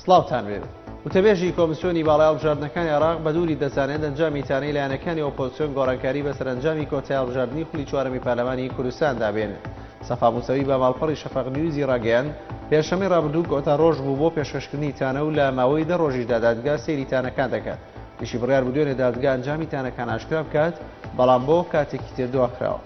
سڵاوتان بێت وتەبێژی کۆمسیۆنی باڵای هەڵبژاردنەکانی عراق بە دووری دەزانێت ئەنجامی تانەی لایەنەکانی ئۆپۆزسیۆن گۆڕانکاری بە سەرنجامی کۆتای هەڵبژاردننی خولی چوارەمی پەرلەمانی کوردستان دابێن سەفا موسەوی بە ماڵپەڕی شەفەق نیوزی ڕاگەیان پێشەمەی ڕابردوو کۆتا ڕۆژ بوو بۆ پێشکەشکردنی تانە و لە ماوەی دە ڕۆژیشدا دادگا سەیری تانەکان دەکات یشی بڕیار بوو دوێنێ دادگا ئەنجامی تانەکان ئاشکرا بکات بەڵام بۆ کاتێکی تر دواخراوە.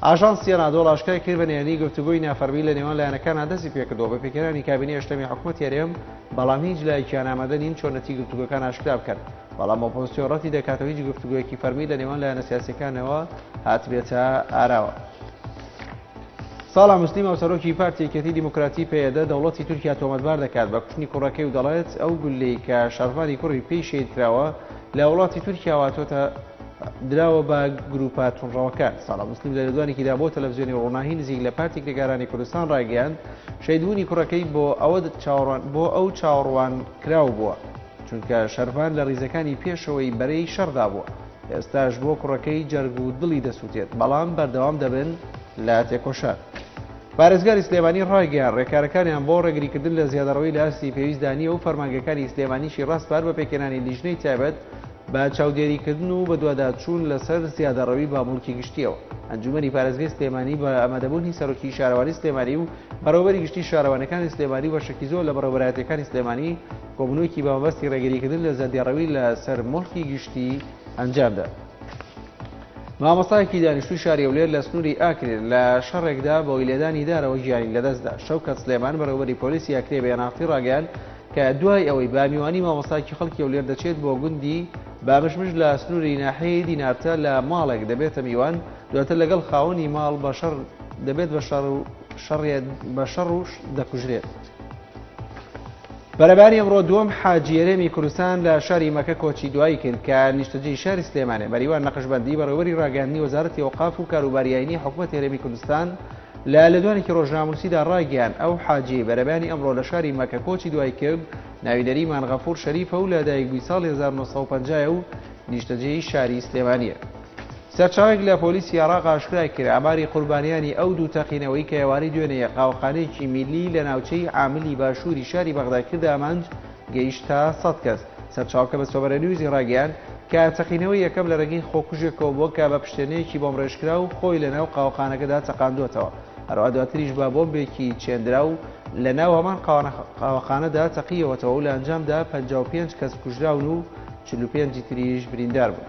ئاژانسی ئەنادۆڵ ئاشکای کرد بە نهێنی گفتوگۆی نافەرمی لە نێوان لایەنەکانە دەستی پێکردەوە بە پێکهێنانی کابینەی هەشتەمی حکوومەتی هەرێم بەڵام هیچ لایەکیان ئامادە نین چۆنەتی گفتوگۆکان ئاشکرا بکەن بەڵام ئۆپۆزسیۆن ڕەتی دەکاتەوە هیچ گفتوگویەکی فەرمی لە نێوان لایەنە سیاسەکانەوە هاتبێتە ئاراوە. ساڵح موسلیم هاوسەرۆکی پارتی یەکێتی دیموکراتی پەیەدە دەوڵەتی تورکیا تۆمەتبار دەکات بە کوشتنی کوڕەکەی و دەڵێت ئەو گولەی کە شەڕڤانی کوڕی پێی شەید کراوە لە وڵاتی تورکیا هاتۆتە دراوە بە گروپە تونڕەوەکان ساڵە مسلیم لە لەدوانێکیدا بۆ تەلەڤزیۆنی ڕووناهی نزیک لە پارتی کرێکارانی کوردستان ڕایگەیاند شەیدبوونی کوڕەکەی بۆ ئەوە چاوەڕوان بۆ ئەو چاوەڕوان کراو بووە چونکە شەرڤان لە ڕیزەکانی پێشەوەی بەرەی شەڕدا بووە ئێستاش بۆ کوڕەکەی جەرگ و دڵی دەسووتێت بەڵام بەردەوام دەبن لە تێکۆشان. پارێزگاری سلێمانی ڕایگەیان ڕێکارەکانیان بۆ ڕێگریکردن لە زیادەڕەوی لە ئاستی پێویستدا نییە و فەرمانگەکانی سلێمانیشی ڕاستپار بە پێکێنانی لیژنەی تایبەت بە چاودێریکردن و بەدواداچوون لەسەر زیادەڕەوی بامڵکی گشتیەوە ئەنجومەنی پارێزگەی سلێمانی بە ئەمەدەبوونی سەرۆکی شارەوانی سلێمانی و بەڕێوبەری گشتی شارەوانەکانی سلێمانی و بەشێکی زۆر لە بەڕێوبەرایەتەکانی سلێمانی کۆبونەوەیەکی بە مەبەستی ڕێگریکردن لە زەردێڕەوی لە سەر موڵکی گشتی ئەنجامدا. مامۆستایەکی دانیشتوی شاری هەولێر لە سنووری ئاکرێ لە شەڕێکدا بەوەی لێدانی دارەوە گیانی لەدەستدا شەوکەت سلێمان بەڕێوبەری پۆلیسی ئاکرێ بە یەناختی ڕاگەیان کە دوای ئەوەی بامیوانی مامۆستاکی خەڵکی هەولێر دەچێت بۆ گوندی بامشمش لە سنووری ناحەیە دینارتە لە ماڵێک دەبێتە میوان دواتر لەگەڵ خاوەنی ماڵ بە شەڕ دەبێت بە شەڕ و شەڕێت بە شەڕ و دەکوژرێت. بەرەبانی ئەمڕۆ دووەم حاجیێرێمی کوردستان لە شاری مەکە کۆچی دوایی کرد کە نیشتەجی شاری سلێمانێ مەریوان نەقشبندی بەڕێوەری ڕاگەاندنی وەزارەتی ئەوقاف و کاروباریایانی حکوومەت هێرێمی کوردستان لە لەدوانێکی ڕۆژناموسیدا ڕاگەیان ئەو حاجی بەرەبانی ئەمڕۆ لە شاری مەکە کۆچی دوای کرد ناوی نەریمان غەفور شەریفە و لە دایکبووی ساڵ 1950 و نیشتەجێی شاری سلێمانە. سەرچاوەیەک لە پۆلیسی عێراق ئاشکرای کرد، ئاماری قوربانیانی ئەو دوو تەقینەوەی کە ئێوارەی دوێنێ یە قاوەخانەیەکی میللی لە ناوچەی عاملی باشووری شاری بەغدای کردە ئامانج گەیشتە سەد کەس. سەرچاوەکە بە سۆبەرە نیوزی ڕاگەیاند کە تەقینەوەی یەکەم لە رێگەی خۆکوژێکەوە بووە کە بە پشتێنەیەکی بۆمڕێژکراو خۆی لە ناو قاوەخانەکەدا تەقاندووەتەوە، هەروەها دواتریش بە بۆمبێکی چێندراو لە ناو هەمان قاوەخانەدا تەقییەوەتەوە و لە ئەنجامدا پەنجا و پێنج کەس کوژراون و چل و پێنج تریش بریندار بوون.